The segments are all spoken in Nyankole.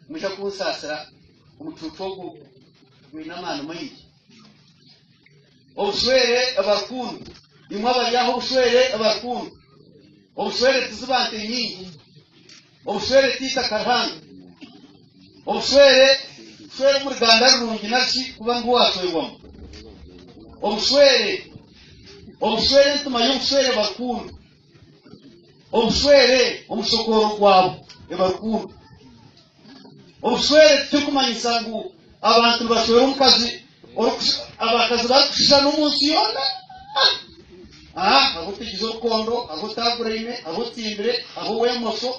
Mwija kunsaasira omucuucu ogu gwine amaani maingi. Obushwere abarukundo, imwe abari aha obushwere abarukundo, obushwere tiziba nte nyingi, obushwere tiitaka Ruhanga, obushwere kushwera omu ruganda rurungi narishi kuba niho waashwerwamu. Obushwere, obushwere entima y'obushwere barukundo. Obushwere omu kishokooro kwabo eba rukundo. Obushwere tikikumanyisa ngu abantu nibashwera omukazi abakazi barikushushana omu nsi yoona. Hariho otigize orukondo, hariho otaaguraine, hariho otimbire, hariho ow'emosho,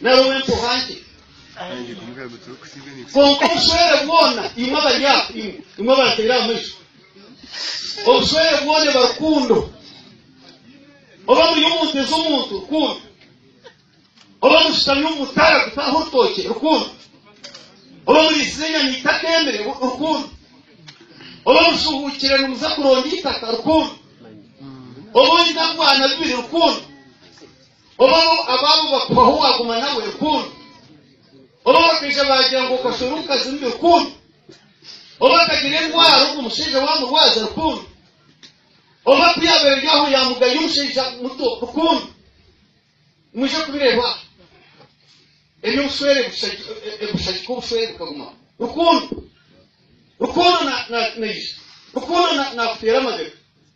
nari ow'empuha nkye kwonka obushwere bwona imwe abari aho imwe imwe abateire aha maju obushwere bwona eba rukundo oba muri omu nte z'omuntu rukundo oba mushutami omu mutara gutaha orutookye rukundo oba muriisize enyama itaka emere rukundo oba mushuhuukire nimuza kuronda itaka rukundo oba oine abwana bibiri rukundo Obaho abaabu bakuhaho waaguma nawe rukundo. Oba abakaija baagira ngu okashwera omukazi mubi rukundo. Oba akagira endwara obwo omushaija waamurwaza rukundo. Oba ku yaabaire eri aho yaamugaya omushaija muto rukundo. Mwije kubireeba aha. Eby'obushwere bushagika obushwere bukagumaho. Rukundo. Rukundo naija. Rukundo naakuteera amabega.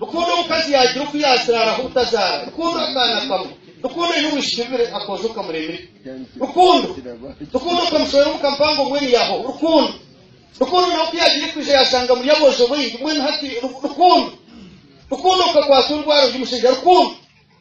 Rukundo omukazi yaagira oku yaaziraaraho obutazaara. Rukundo akaana kamwe. Rukundo aine obwishiki bubiri akoojo kamuremire. Rukundo. Rukundo kamushorera omu kampango mbwenu yaaho. Rukundo. Rukundo nawe ku yaagire kwija yaashanga muri aboojo baingi mbwenu hati. Rukundo. Rukundo kakwatwa endwara ondi mushaija. Rukundo.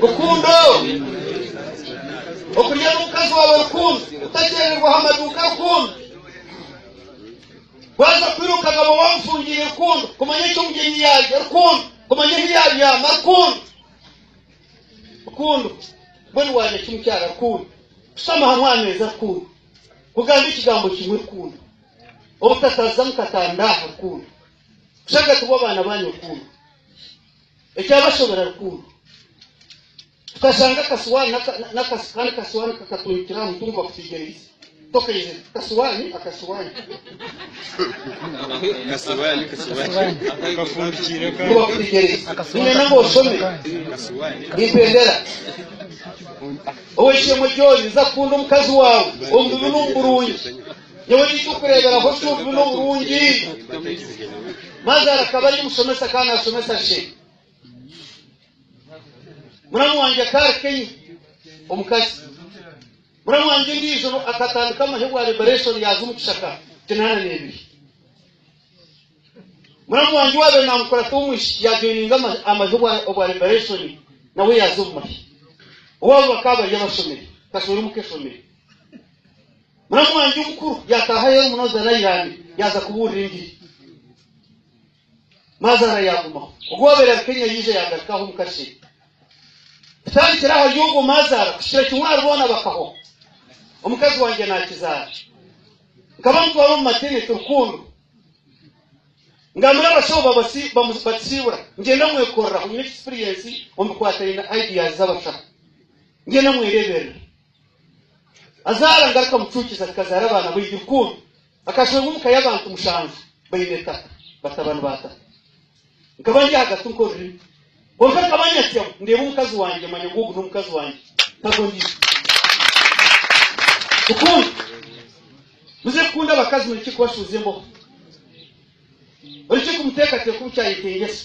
Rukundo, okurya n'omukazi waawe rukundo, otakyererwaho amaduuka rukundo, waaza kwiruka akaba waamufungiire rukundo, kumanya eki omugyenyi yaarya rukundo, kumanya ahu yaabyama rukundo, rukundo, mbwenu waarya ki mukyara rukundo, kushutama aha mwameeza rukundo, kugamba ekigambo kimwe rukundo, obutataziza mukatanda aha rukundo. Kushanga tibwo abaana ba nyokuuru. Ekyabashobera rukundo. Tukashanga akasuwaani n'aka- n'akasu kandi kasuwaani kakatuhikira aha mutwe ngu bakusiigire eibisi. Tokaizire. Kasuwaani, akasuwaani. Kasuwaani, kasuwaani. Akafundikiire ka Ngu bakusiigire eibisi. Nyine nanga oshome. Kasuwaani. Nimpendera. Ow'eishe-emwe John, nza kukunda omukazi waawe omu bibi n'omu burungi. Yoona eky'okureeberaho ky'obubi n'oburungi, Mazaara akaba ari omushomesa akaba naashomesa she. Muramu wangye akaba ari Kenya, omukazi. Muramu wangye ondiijo akatandika amahe bwa liberation yaaza omu kishaka kinaana n'ebiri. Muramu wangye owaabaire naamukurata ow'omwishiki yaajoininga amahe obwa liberation nawe yaaza omu mahe. Owaabo bakaba bari abashomire, kashwera omu keshomire. Muramu wangye omukuru yaataaha aheeru munonooza n'airaine yaaza kubuurira engiri. Maazaara yaagumaho. Ogu waabaire ari Kenya yaija yaagaruka aha omuka Shei. Kutandikira ahari ogwo Maazaara kuhikira kimwe ahari boona bakahwa. Omukazi wangye naakizaara. Nkaba mutwara omu mateneti Rukundo. Ngambira abashaho bamusiibura. Ngyenda mwekoreraho. Nyine ekisipiriyensi omu bikwataine na IDAs z'abashaho. Ngyenda mwereeberera. Azaara ngaruka mucuukizi akazaara abaana baingi rukundo. Akashangwa omu ka y'abantu mushanju baine itaka, batabani ba tata. Nkaba ndi ahagati nka orurimi. Kwonka nkaba nyatyamu, ndeeba omukazi wangye manya ngu ogu n'omukazi wangye, tagwo ndiija. Rukundo, muze kukunda abakazi, mureke kubashuuza emboho. Oreke kumuteekateeka obu kyayetengyesa.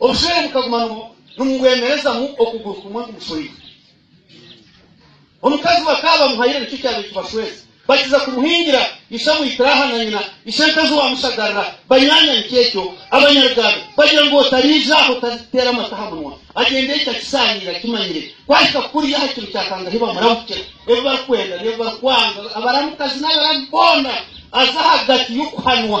Obushwere bukaguma nibubwemerezamu okuguru kumwe kugushweire. Omukazi bakaba bamuhaire nikyo kyabaire kibashweza. Bakiza kumuhingira, ishe amwitire aha na nyina, ishe Ntezi wamushagarira, banywanya nikyo ekyo. Abanyaruganda bagira ngu otariija aha otariteera amate aha munwa. Agyenda ekyo akisaaniire akimanyire. Kwahika kuriya aha kiro kya Kanga ahi bamuramukira, ebi barikwenda n'ebi barikwanga, abaramukazi n'abaramu boona aza ahagati y'okuhanwa.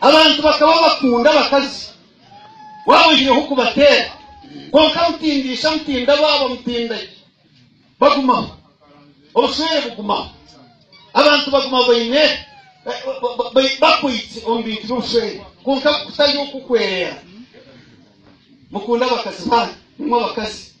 Abantu bakaba bakunda abakazi waaba oihireho kubateera, kwonka mutindaisha, mutindabaaba, mutindagye bagumaho, obushwere bugumaho. Abantu baguma baine bakwaitse omu bintu by'obushwere kwonka kutari oku kwereera. Mukunde abakazi banyu, nimwo abakazi.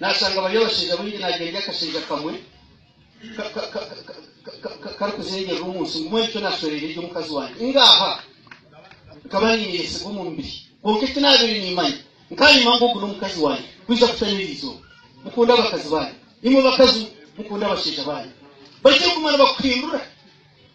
Naashanga bari abashaija baingi naagira ngu akashaija kamwe karikuzengyerera omu nsi ngume rityo naashwereera eri omukazi wangye. Ngaaha nkaba niineyesigwa omu mubiri, kwonka eki naabaire niimanya, nkaayema ngu ogu n'omukazi wangye kwija kutayo erizooba. Mukunde abakazi baanyu. Imwe bakazi, mukunde abashaija baanyu. Baije kuguma nibakuhindura.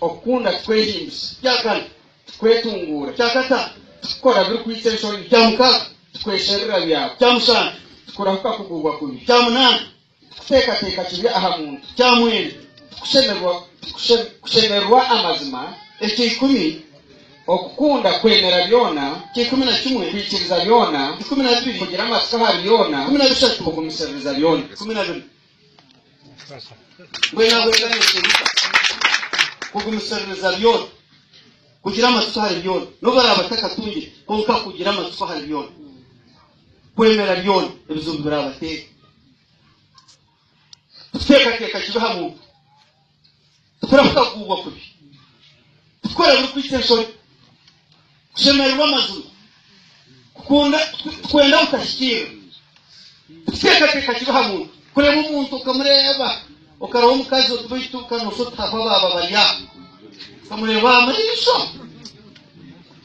Okukunda tikwehimbisa. Kyakana, tikwetunguura. Kyakataano, tikukora birikwitsa enshoni. Kyamukaaga, tikwesherura byawe. Kyamushanju, tikurahuka kuguubwa kubi. Kyamunaana, tikuteekateeka kibi aha muntu. Kyamwenda, tikushemererwa amazima. Eky'eikumi, Okukunda kwemera byona. Ky'eikumi na kimwe, Kwikiriza byona. Ikumi na bibiri, Kugira amatsiko ahari byona. Ikumi na bishatu, Kugumisiririza byona. Ikumi na bina, Mbwenu ahabw'ekyo naayetengyesa kugumisiririza byona, kugira amatsiko ahari byona, n'obu araabe atakatungire, kwonka kugira amatsiko ahari byona, kwemera byona ebizibu biraabateera. Kuteekateeka kibi aha muntu. Titurabaasa kugubwa kubi. Kukora birikwita enshoni. Kushemererwa amazima. Kukunda, kwenda butahikirira. Kuteekateeka kibi aha muntu. Kureeba omuntu okamureeba, okareba omukazi oti baitu kanoosha oti hahwa baaba bari aha. Okamureeba aha maisho.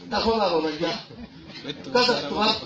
Tahwa baaba bari aha. Omukazi ati tubafa.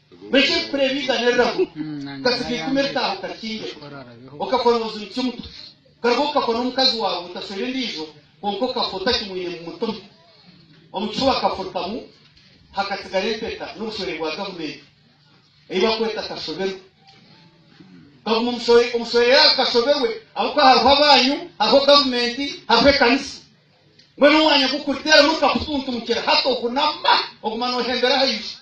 Beitu ebikura ebi igana erirabo okasiga eikumi eritaahuka rikingire, okakora obuzibu kimwe, okarwa okakwa n'omukazi waawe otaswera endiijo kwonka okafwa otakimwine ngu mutume. Omu kifuba akafurukamu hakatsigara empeta n'obushwere bwa gavumenti ei bakweta kashoberwe. Kaguma omushwere yaawe kashoberwe ahabw'okuba hariho abaanyu, hariho gavumenti, hariho ekanisa. Mbwenu omwanya gu kuriteeramu nikakutuntumukira hati ohunama oguma nohembera aha izi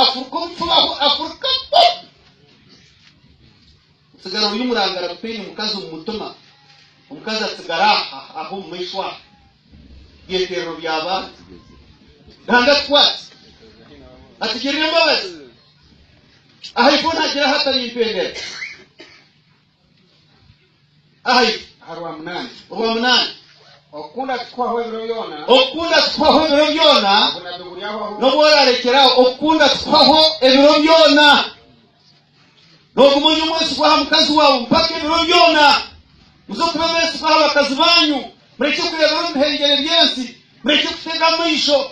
afuruka obufuba ahu afuruka po otsigara ori omurangara gutaine mukazi omu mutima omukazi atsigara aha aha omu maisho aha byeteerero by'abantu ruhanga tukwatse atugirire embabazi aha ifooni agira hata nimpendera Ai, aha rwa munaana, orwa munaana. Okukunda kikuhwaho ebiro byona. Okukunda kikuhwaho ebiro byona. Obunabbi buri aho ahu. N'obu oraarekyeraho, okukunda kikuhwaho ebiro byona. Nooguma ori omwesigwa aha mukazi waawe mpaka ebiro byona. Muze kuba abeesigwa aha bakazi baanyu. Murekye kureebera omu bihengyere by'ensi. Murekye kutega amaisho.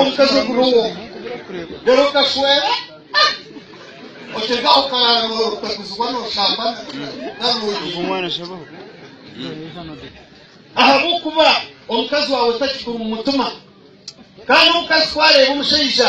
omukazi oguriho reero okashwera otegaho karaara otakuzibwa nooshambana ahabw'okuba omukazi waawe takikuru mu mutima kandi omukazi ku areeba omushaija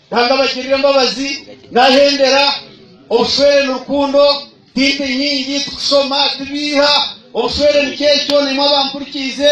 Nanga abagirira embabazi nahendera, obushwere ni rukundo, tinte nyingi, tikushoma, tibiiha, obushwere ni kyekyo, naimwe abampurikiize.